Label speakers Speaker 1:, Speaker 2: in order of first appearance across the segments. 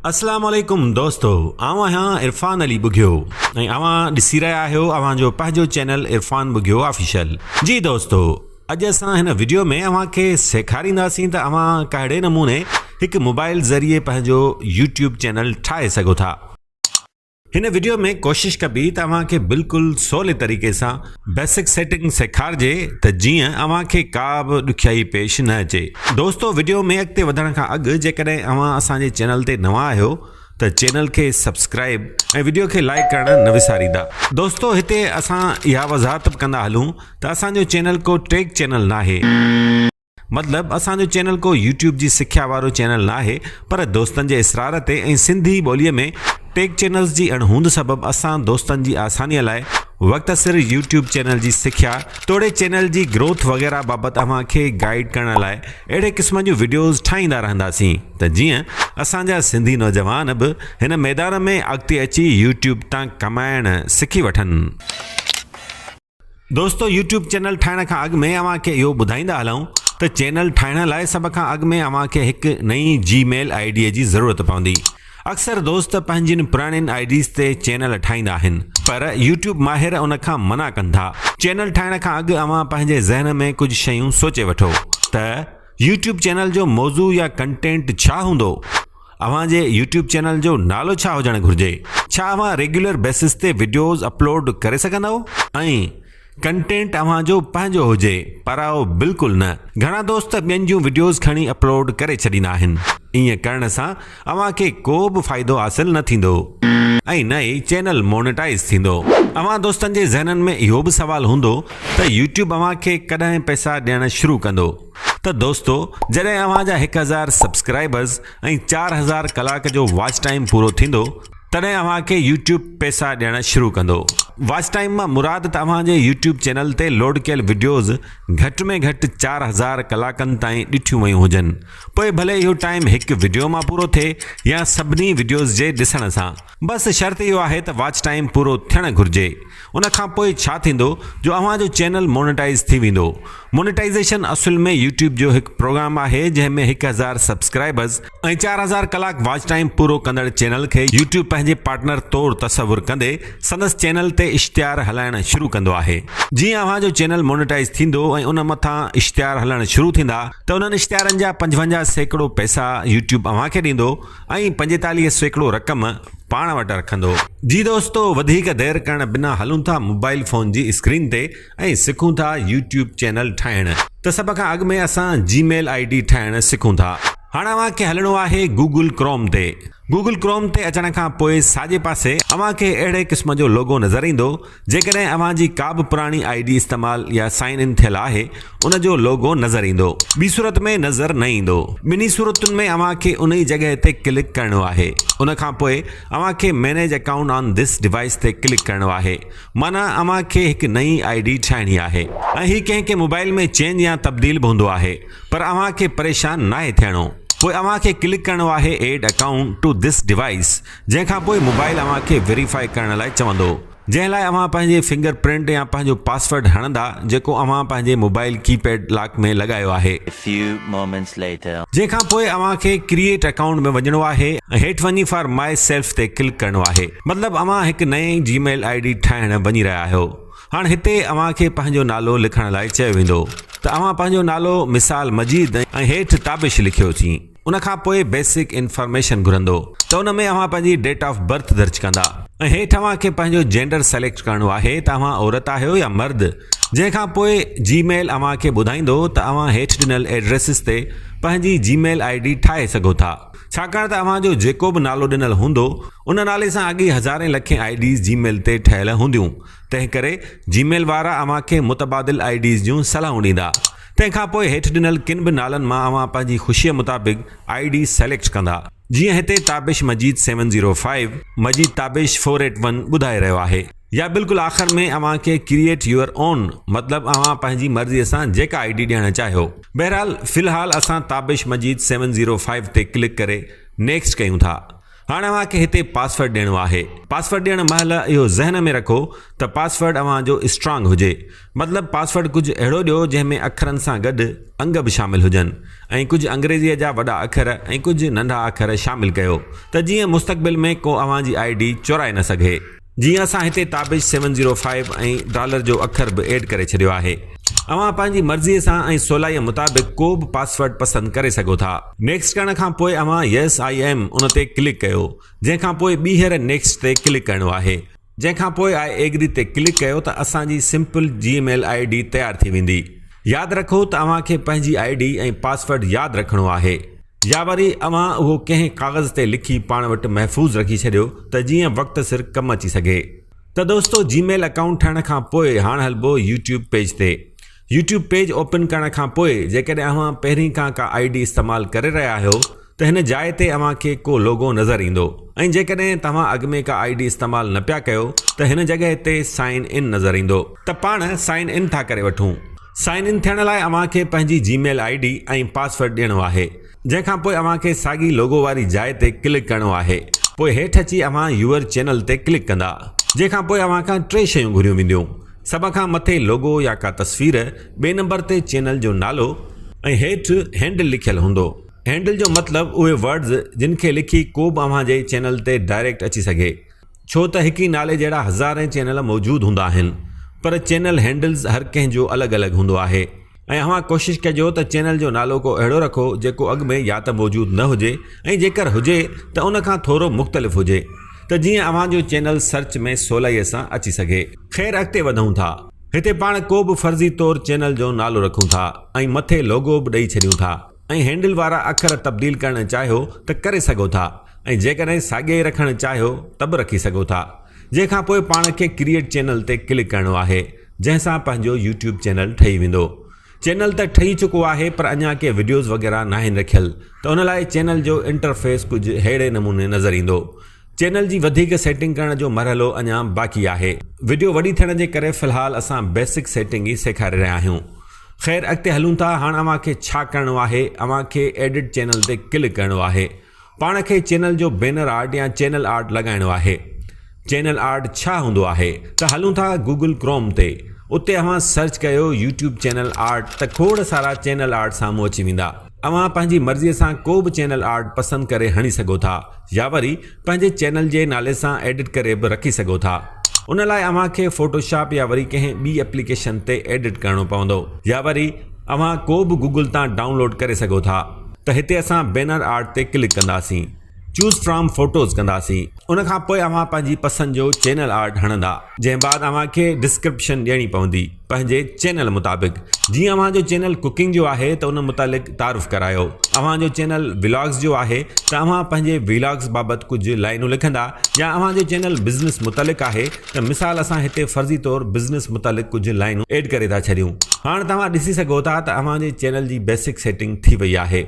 Speaker 1: اسلام عليڪم دوستو آئون آهيان عرفان علي ٻگهيو ۽ اوهان ڏسي رهيا آهيو اوهان جو پنهنجو چينل عرفان ٻگهيو آفيشل جي دوستو اڄ اسان هن وڊيو ۾ اوهان کي سيکارينداسين ته اوهان ڪهڙي نموني هڪ موبائل ذريعي پنهنجو يوٽيوب چينل ٺاهي سگهو ٿا. هن وڊيو ۾ ڪوشش ڪبي ته اوهان کي بلڪل سولي طريقي سان بيسڪ سيٽنگ سيکارجي ته جيئن اوهان کي ڪا به ڏکيائي پيش نه اچي. دوستو وڊيو ۾ اڳتي وڌڻ کان اڳ جيڪڏهن اوهان اسان جي چينل تي نوان آهيو ته چينل کي سبسڪرائب ۽ وڊيو کي لائيڪ ڪرڻ نه وساريندا. دوستو هتي اسان اها وضاحت به ڪندا هلون ته اسان جو چينل ڪو ٽيڪ چينل ناهي. مطلب اسان جو چينل ڪو يوٽيوب جي سکيا وارو چينل ناهي پر دوستن جي اصرار تي ۽ سنڌي ٻولي ۾ ٽيڪ چينلز جي اڻ هوند سبب اسان دوستن جي آساني لاء وقت سر يوٽيوب چينل جي سکيا توڙي چينل جي گروٿ وغيره بابت اوهان کي گائيڊ ڪرڻ لاء اهڙي قسم جون وڊيوز ٺاهيندا رهنداسين ته جيئن اسان جا سنڌي نوجوان به هن ميدان ۾ اڳتي اچي يوٽيوب تان ڪمائڻ سکي وٺن. دوستو يوٽيوب چينل ٺاهڻ کان اڳ ۾ اوهان کي اهو ٻڌائيندا هلون ته چينل ٺاهڻ لاء سڀ کان اڳ ۾ اوهان کي هڪ نئين جي ميل آئي ڊي جي ضرورت پوندي اڪثر دوست پنهنجين پراڻين آئي ڊيز تي چينل ٺاهيندا آهن پر يوٽيوب ماهر ان کان منع ڪن ٿا چينل ٺاهڻ کان اڳ اوهان پنهنجي ذهن ۾ ڪجهه شيون سوچي وٺو ته يوٽيوب چينل جو موضوع يا ڪنٽينٽ ڇا هوندو؟ اوهان جي يوٽيوب چينل جو نالو ڇا هجڻ گهرجي؟ ڇا اوهان ريگيولر بيسس تي وڊيوز اپلوڊ ڪري سگهندؤ؟ ۽ ڪنٽينٽ اوهان جو پنهنجو هجي؟ پراو بلڪل نه. گهڻا دوست ٻين جون وڊيوز کڻي اپلوڊ ڪري ڇڏيندا آهن. ائين ڪرڻ سان اوهان کي ڪو به فائدو حاصل نه ٿيندو ۽ نه ئي چينل مونيٽائيز ٿيندو. اوهان دوستن جي ذهنن ۾ اهو به سوال هوندو ته يوٽيوب اوهان کي ڪڏهن پئسا ڏيڻ شروع ڪندو؟ ته دوستو جڏهن اوهان جا هڪ هزار سبسڪرائبرز ۽ چار هزار ڪلاڪ جو واچ ٽائيم پورو ٿيندو تڏهن اوهان کي يوٽيوب پئسا ڏيڻ شروع ڪندو واچ ٽائيم مان مراد ته اوهان جي يوٽيوب چينل تي لوڊ ڪيل وڊيوز گهٽ ۾ گهٽ چار هزار ڪلاڪن تائين ڏٺيون ويون هجن پوء ڀلي اهو ٽائيم هڪ وڊيو مان پورو ٿئي يا سڀني وڊيوز جي ڏسڻ سان بس شرط اهو آهي ته واچ ٽائيم پورو ٿيڻ گهرجي ان کان پوء ڇا ٿيندو جو اوهان جو چينل مونيٽائيز ٿي ويندو مونيٽائيزيشن اصل ۾ يوٽيوب جو هڪ پروگرام آهي جنهن ۾ هڪ هزار سبسڪرائبرز ۽ چار هزار ڪلاڪ واچ ٽائيم پورو ڪندڙ چينل کي يوٽيوب پنهنجي پارٽنر طور تصور ڪندي سندس چينل تي اشتهار هلائڻ شروع ڪندو آهي جيئن اوهان جو چينل مونيٽائيز ٿيندو ۽ ان مٿان اشتهار هلڻ شروع ٿيندا ته انهن اشتهارن جا پنجونجاهه سيڪڙو پئسا يوٽيوب اوهان کي ڏيندو ۽ پنجيتاليهه سيڪڙو رقم پاڻ وٽ رکندو. جي دوستو وڌيڪ دير ڪرڻ بنا هلون ٿا موبائيل فون جي اسڪرين تي ۽ سکون ٿا يوٽيوب چينل ٺاهڻ. ته سڀ کان اڳ ۾ اسان جي ميل آئي ڊي ٺاهڻ سکون ٿا. هاڻ اوهان کي هلڻو آهي گوگل ڪروم تي. گوگل ڪروم تي اچڻ کان پوء ساڄي پاسي اوهان کي اهڙي قسم جو لوگو نظر ايندو. جيڪڏهن اوهان جي ڪا به پراڻي آئي ڊي استعمال يا سائن ان ٿيل آهي ان جو لوگو نظر ايندو. ٻي صورت ۾ نظر نه ايندو. ٻنهي صورتن ۾ اوهان کي انهي جڳهه تي ڪلڪ ڪرڻو آهي. ان کان پوء اوهان کي manage account on this device تي ڪلڪ ڪرڻو آهي. معنيٰ اوهان کي هڪ نئين آئي ڊي ٺاهڻي آهي. ۽ هي ڪنهن ڪنهن موبائيل ۾ چينج يا تبديل به هوندو آهي. پر اوهان کي پريشان ناهي ٿيڻو. پوء اوهان کي ڪلڪ ڪرڻو آهي add account to this device. جنهن کان پوء موبائل اوهان کي ويريفائي ڪرڻ لاء چوندو جنهن لاء اوهان پنهنجي فنگر پرنٽ يا پنهنجو پاسورڊ هڻندا جيڪو اوهان پنهنجي موبائل ڪي پيڊ لاڪ ۾ لڳايو آهي. A few moments later. جنهن کان پوء اوهان کي ڪريئيٽ اڪائونٽ ۾ وڃڻو آهي ۽ هيٺ وڃي فار مائي سيلف تي ڪلڪ ڪرڻو آهي مطلب اوهان هڪ نئين جي ميل آئي ڊي ٺاهڻ وڃي رهيا آهيو هاڻ هتي اوهان کي پنهنجو نالو لکڻ لاء چيو ويندو ته اوهان پنهنجو نالو مثال مجيد ۽ هيٺ تابش لکيو چين ان کان پوء بيسڪ انفارميشن گهرندو ته ان ۾ اوهان پنهنجي ڊيٽ آف برٿ درج ڪندا ۽ هيٺ اوهان کي پنهنجو جينڊر سليڪٽ ڪرڻو آهي ته اوهان عورت آهيو يا مرد جنهن کان پوء جي ميل اوهان کي ٻڌائيندو ته اوهان هيٺ ڏنل ايڊريسز تي پنهنجي جي ميل آئي ڊي ٺاهي سگهو ٿا ڇاڪاڻ ته اوهان جو جيڪو به نالو ڏنل هوندو ان نالي سان اڳي هزارين لکين آئي ڊيز جي ميل تي ٺهيل هونديون تنهنڪري جي ميل وارا اوهان کي متبادل آئي ڊيز جون صلاحون ڏيندا تنهن کان پوء هيٺ ڏنل ڪن به نالن مان اوهان پنهنجي خوشيء مطابق آئي ڊي سليڪٽ ڪندا. جيئن هتي Tabish Majid seven zero five, Majid Tabish four eight one, ٻڌائي رهيو آهي. يا بلڪل آخر ۾ اوهان کي ڪريئيٽ يوئر اون مطلب اوهان پنهنجي مرضيء سان جيڪا آئي ڊي ڏيڻ چاهيو. بهرحال في الحال اسان Tabish Majid seven zero five تي ڪلڪ ڪري نيڪسٽ ڪيون ٿا. هاڻي اوهان کي هتي پاسورڊ ڏيڻو آهي. پاسورڊ ڏيڻ مهل اهو ذهن ۾ رکو ته پاسورڊ اوهان جو اسٽرانگ هجي. مطلب پاسورڊ ڪجهه اهڙو ڏيو جنهن ۾ اکرن سان گڏ انگ به شامل هجن ۽ ڪجهه انگريزيء جا وڏا اکر ۽ ڪجهه ننڍا اکر شامل ڪيو ته جيئن مستقبل ۾ ڪو اوهان جي آئي ڊي چورائي نه سگهي. جيئن اسان هتي Tabish seven zero five ۽ dollar جو اکر به ايڊ ڪري ڇڏيو آهي. اوهان پنهنجي مرضي سان ۽ سولائيء مطابق ڪو به پاسورڊ پسند ڪري سگهو ٿا. نيڪسٽ ڪرڻ کان پوء اوهان يس آء ايم ان تي ڪلڪ ڪيو جنهن کان پوء ٻيهر نيڪسٽ تي ڪلڪ ڪرڻو آهي جنهن کان پوء آء ايگري تي ڪلڪ ڪيو ته اسان جي simple Gmail I D تيار ٿي ويندي. ياد رکو ته اوهان کي پنهنجي آء ڊي ۽ پاسورڊ ياد رکڻو آهي. يا وري اوهان اهو ڪنهن ڪاغذ تي لکي پاڻ وٽ محفوظ رکي ڇڏيو ته جيئن وقت سر ڪم اچي سگهي. ته دوستو جي ميل اڪائونٽ ٺهڻ کان پوء هاڻ هلبو يوٽيوب پيج تي. يوٽيوب پيج اوپن ڪرڻ کان پوء جيڪڏهن اوهان پهرين کان ڪا آئي ڊي استعمال ڪري رهيا آهيو ته هن جاء تي اوهان کي ڪو لوگو نظر ايندو ۽ جيڪڏهن توهان اڳ ۾ ڪا آئي ڊي استعمال نه پيا ڪيو ته هن جڳهه تي سائن ان نظر ايندو. ته پاڻ سائن ان ٿا ڪري وٺون. سائن ان ٿيڻ لاء اوهان کي پنهنجي Gmail I D ۽ password ڏيڻو آهي جنهن کان پوء اوهان کي ساڳي لوگو واري جاء تي ڪلڪ ڪرڻو آهي پوء هيٺ اچي اوهان يوئر چينل تي ڪلڪ ڪندا جنهن کان پوء اوهان کان ٽي شيون گهريون وينديون سڀ کان مٿي لوگو يا ڪا تصوير ٻئي نمبر تي چينل جو نالو ۽ هيٺ هينڊل لکيل هوندو هينڊل جو مطلب اهي ورڊز جن کي لکي ڪوبه اوهان جي چينل تي ڊائريڪٽ اچي سگهي. ڇو ته هڪ ئي نالي جهڙا هزارين چينل موجود هوندا آهن پر چينل هينڊلز هر ڪنهن جو الڳ الڳ هوندو آهي ۽ اوهان ڪوشش ڪجو ته چينل جو نالو ڪو اهڙو رکو جيڪو اڳ ۾ يا ته موجود نه هجي ۽ جيڪر هجي ته ان کان ٿورو مختلف هجي ته جيئن اوهان جو چينل سرچ ۾ سولائي سان اچي سگهي. خير اڳتي وڌون ٿا. هتي پاڻ ڪو به فرضي طور چينل جو نالو رکون ٿا ۽ مٿي لوگو به ڏئي ڇڏيون ٿا. ۽ هينڊل وارا اکر تبديل ڪرڻ چاهيو ته ڪري سگهو ٿا ۽ جيڪڏهن ساڳيا ئي رکڻ چاهيو ته به رکي سگهو ٿا جنهن کان پوء پاڻ کي ڪريئيٽ چينل تي ڪلڪ ڪرڻو آهي جنهن سان پنهنجو يوٽيوب چينل ٺهي ويندو چينل ته ٺهي چڪو آهي پر اڃا ڪي وڊيوز وغيره ناهن رکيل ته ان لاء چينل جو انٽرفيس ڪجهه ههڙي نموني نظر ايندو چينل جي وڌيڪ سيٽنگ ڪرڻ جو مرحلو اڃا باقي آهي وڊيو وڏي ٿيڻ جي ڪري في الحال اسان بيسڪ سيٽنگ ئي سيکاري رهيا آهيون خير اڳتي هلون ٿا هاڻ اوهان کي ڇا ڪرڻو آهي اوهان کي ايڊٽ چينل تي ڪلڪ ڪرڻو آهي پاڻ کي چينل جو بينر آرٽ يا چينل آرٽ لڳائڻو آهي چينل آرٽ ڇا هوندو آهي ته هلون ٿا گوگل ڪروم تي اتي اوهان سرچ ڪيو يوٽيوب چينل آرٽ ته کوڙ سارا چينل آرٽ سامهون اچي ويندا اوهان پنهنجي مرضي سان ڪو به چينل آرٽ پسند ڪري هڻي سگهو ٿا يا وري پنهنجي چينل جي نالي سان ايڊٽ ڪري به رکي سگهو ٿا ان لاء اوهان کي فوٽو شاپ يا وري ڪنهن ٻي اپليڪيشن تي ايڊٽ ڪرڻو پوندو يا وري اوهان ڪو به گوگل تان ڊائون لوڊ ڪري سگهو ٿا ته هتي اسان بينر آرٽ تي ڪلڪ ڪنداسين. Choose From Photos ڪنداسين ان کان پوء اوهان پنهنجي پسند جو چينل آرٽ هڻندا جنهن بعد اوهان کي ڊسڪرپشن ڏيڻي پوندي پنهنجي چينل مطابق جيئن اوهان جو چينل ڪوڪنگ جو آهي ته ان متعلق تعارف ڪرايو اوهان جو چينل ولاگز جو آهي ته اوهان پنهنجي ولاگز بابت ڪجهه لائنون لکندا يا اوهان جو چينل بزنس متعلق آهي ته مثال اسان هتي فرضي طور بزنس متعلق ڪجهه لائنون ايڊ ڪري ٿا ڇڏيون هاڻ توهان ڏسي سگهو ٿا ته اوهان جي چينل جي بيسڪ سيٽنگ ٿي وئي آهي.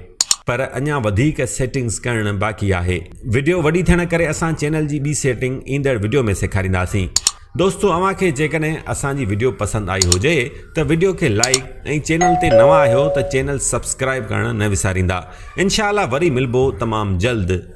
Speaker 1: پر اڃا وڌيڪ سيٽنگز ڪرڻ باقي آهي وڊيو وڏي ٿيڻ ڪري اسان چينل جي ٻي سيٽنگ ايندڙ وڊيو ۾ سيکارينداسين دوستو اوهان کي جيڪڏهن اسان جي وڊيو پسند آئي هجي ته وڊيو کي لائيڪ ۽ چينل تي نوان آهيو ته چينل سبسڪرائيب ڪرڻ نه وساريندا انشاء الله وري ملبو تمام جلد.